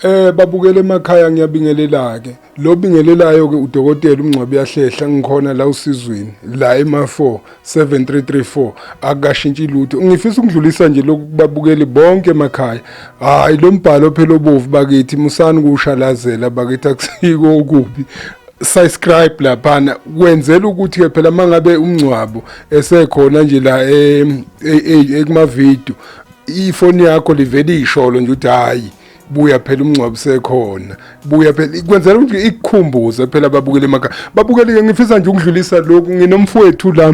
Eh babukele emakhaya ngiyabingelela ke. Lo bingelelayo ke udokotela umngcwabi yahlehla ngikhona la usizweni la ema4 7334 akashintshi lutho ngifisa ukudlulisa nje lokubabukeli bonke emakhaya hayi lo mbhalo phela obovu bakithi musani kushalazela bakithi akusiko okubi subscribe laphana kwenzela ukuthi ke phela mangabe umngcwabo esekhona nje la e, e, e, ekuma video ifoni yakho livele isholo nje ukuthi hayi buya phela umngcwabo sekhona buya phela kwenzela ukuthi ikukhumbuze phela babukele emakhaya babukele ngifisa nje ukudlulisa lokhu nginomfowethu la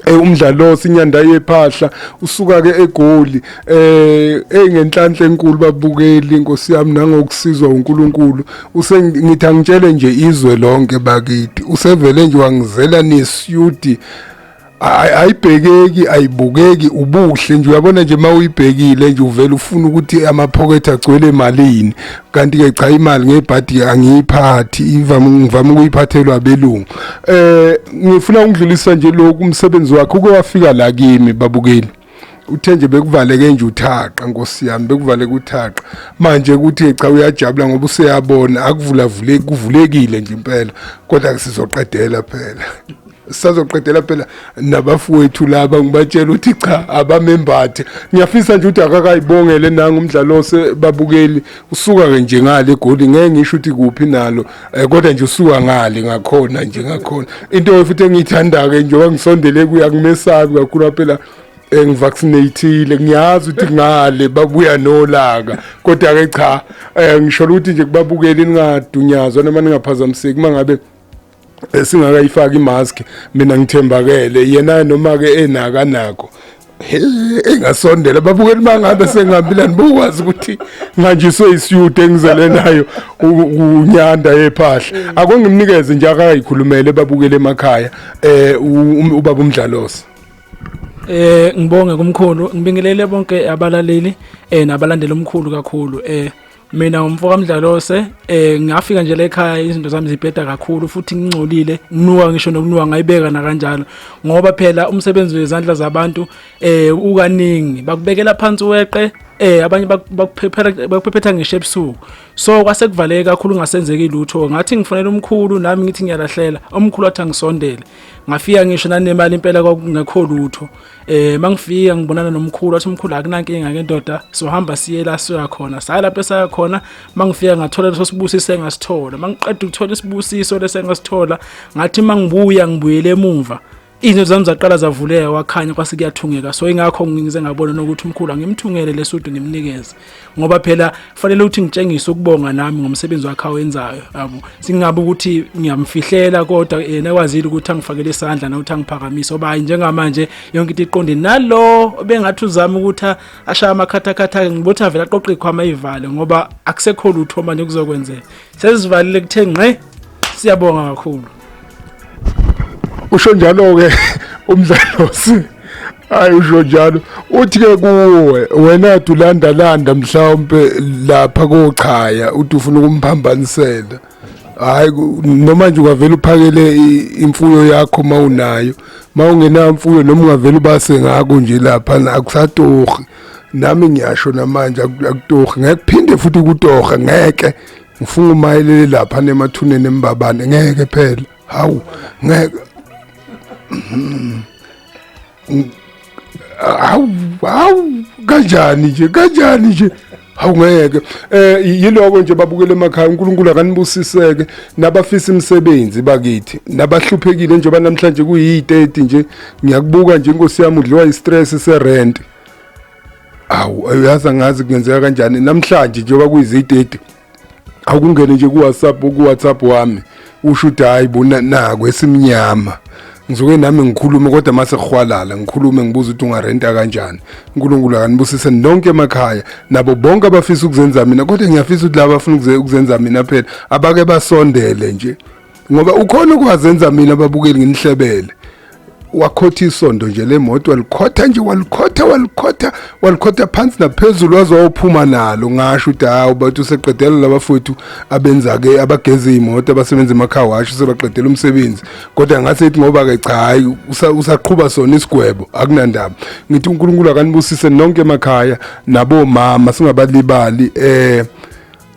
Eh, umdlalo sinyanda yephahla usuka ke egoli eh engenhlanhla enkulu babukeli inkosi yami nangokusizwa uNkulunkulu usengithi angitshele nje izwe lonke bakithi usevele nje wangizela nesudi Ay- ayibhekeki ayibukeki ubuhle nje uyabona nje uma uyibhekile nje uvele ufuna ukuthi amaphokethe agcwele emalini kanti-ke cha imali ngebhadi-ke angiyiphathi ivame- ngivame ukuyiphathelwa abelungu um ngifuna ukudlulisa nje lokhu umsebenzi wakhe uke wafika la kimi babukeli uthe nje bekuvaleke nje uthaqa nkosi yami bekuvaleke uthaqa manje ukuthi cha uyajabula ngoba useyabona akuvulavuleki kuvulekile nje impela kodwa kusizoqedela phela sazoqedela phela nabafowethu laba ngibatshela ukuthi cha abamembathe ngiyafisa nje ukuthi akakayibongele nanga umdlalo osebabukeli usuka-ke nje ngale egoli ngeke ngisho ukuthi kuphi nalo Eh kodwa nje usuka ngale ngakhona nje ngakhona. Into futhi engiyithanda ke njengoba ngisondele kuya kumesabi kakhulu phela engivaccinateile ngiyazi ukuthi ngale babuya nolaka kodwa ke cha eh, ngisho ukuthi nje kubabukeli ningadunyazwa noma ningaphazamiseki mangabe esingakayifaki imask mina ngithembakele yena noma ke enaka nako engasondela babukeli bangabe sengihambilani bokwazi ukuthi nganjiswe isiyude engizele nayo unyanda yephahla mm. akongimnikeze nje akayikhulumele babukele emakhaya eh um, ubaba umdlalosi eh ngibonge kumkhulu ngibingelele bonke abalaleli eh nabalandela umkhulu kakhulu eh mina umfo kamdlalose eh ngafika nje la ekhaya izinto zami zibheda kakhulu futhi ngingcolile nginuka ngisho nokunuka ngayibeka nakanjalo ngoba phela umsebenzi wezandla zabantu eh ukaningi bakubekela phansi weqe eh abanye bakuphephela bakuphephetha ngisho ebusuku so kwase kuvaleke kakhulu ngasenzeki lutho ngathi ngifonela umkhulu nami ngithi ngiyalahlela umkhulu athi angisondele ngafika ngisho nanemali impela kwakungekho lutho eh mangifika ngibonana nomkhulu wathi umkhulu akunankinga ke ndoda sohamba siye la soya khona saya lapho esaya khona mangifika ngathola leso sibusiso engasithola mangiqeda ukuthola isibusiso lese engasithola ngathi mangibuya ngibuyele emuva izinto zami zaqala zavuleka wakhanya kwase kuyathungeka so ingakho ngize ngabona nokuthi umkhulu angimthungele lesudu ngimnikeze ngoba phela kufanele ukuthi ngitshengise ukubonga nami ngomsebenzi wakhe awenzayo yabo singabe ukuthi ngiyamfihlela kodwa yena ekwazile ukuthi angifakele isandla nokuthi angiphakamise oba njengamanje yonke into iqonde nalo bengathi uzama ukuthi ashaya amakhathakhatha ngibothi avela aqoqa ikhwama ivale ngoba akusekho lutho manje kuzokwenzeka sesivalile kuthe ngqe siyabonga kakhulu usho njalo-ke umdlalosi hayi usho njalo uthi-ke kuwe wena tulandalanda mhlawumpe lapha kochaya uthi ufuna ukumphambanisela hayi noma nje ungavele uphakele imfuyo yakho uma unayo uma ungenayo mfuyo noma ungavele ubase ngako nje lapha akusatohi nami ngiyasho namanje akutohi ngeke phinde futhi kutoha ngeke ngifuna umayelele lapha nemathuneni embabane ngeke phela hawu ngeke hawu hawu kanjani nje kanjani nje hawu ngeke eh yiloko nje babukele emakhaya uNkulunkulu akanibusiseke nabafisa imisebenzi bakithi nabahluphekile njengoba namhlanje kuyi-30 nje ngiyakubuka nje inkosi yami udliwa i-stress se-rent awu uyazi angazi kungenzeka kanjani namhlanje njengoba kuyizitete akungene nje kuwhatsapp kuwhatsapp wami usho ukuthi hayi bona nako esimnyama ngizoke nami ngikhulume kodwa mase khwalala ngikhulume ngibuza ukuthi ungarenta kanjani uNkulunkulu akanibusise nonke emakhaya nabo bonke abafisa ukuzenza mina kodwa ngiyafisa ukuthi laba bafuna ukuzenza mina phela abake basondele nje ngoba ukhona ukwazenza mina babukeli nginihlebele wakhotha isondo nje lemoto walikhotha nje walikhotha walikhotha walikhotha phansi naphezulu waze wayophuma nalo ngasho ukuthi hawu bathi useqedela labafowethu abenza ke abageze imoto abasebenza emakhaya washo sebaqedela umsebenzi kodwa ngase ethi ngoba ke cha hayi usaqhuba sona isigwebo akunandaba ngithi uNkulunkulu akanibusise nonke emakhaya nabomama singabalibali eh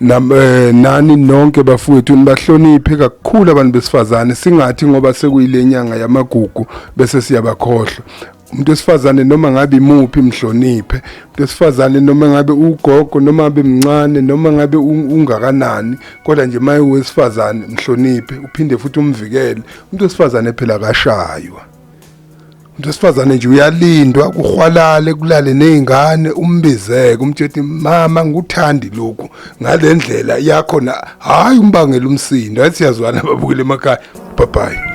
Eh, nani nonke bafowethu nibahloniphe kakhulu abantu besifazane singathi ngoba sekuyile nyanga yamagugu bese siyabakhohlwa umuntu wesifazane noma ngabe imuphi mhloniphe umuntu wesifazane noma ngabe ugogo noma ngabe mncane noma ngabe ungakanani kodwa nje maye wesifazane mhloniphe uphinde futhi umvikele umuntu wesifazane phela kashaywa umuntu wesifazane nje uyalindwa kuhwalale kulale nezingane umbizeke umtsheti mama ngikuthandi lokhu ngalendlela yakho na hayi umbangela umsindo athi siyazwana babukele emakhaya bye bye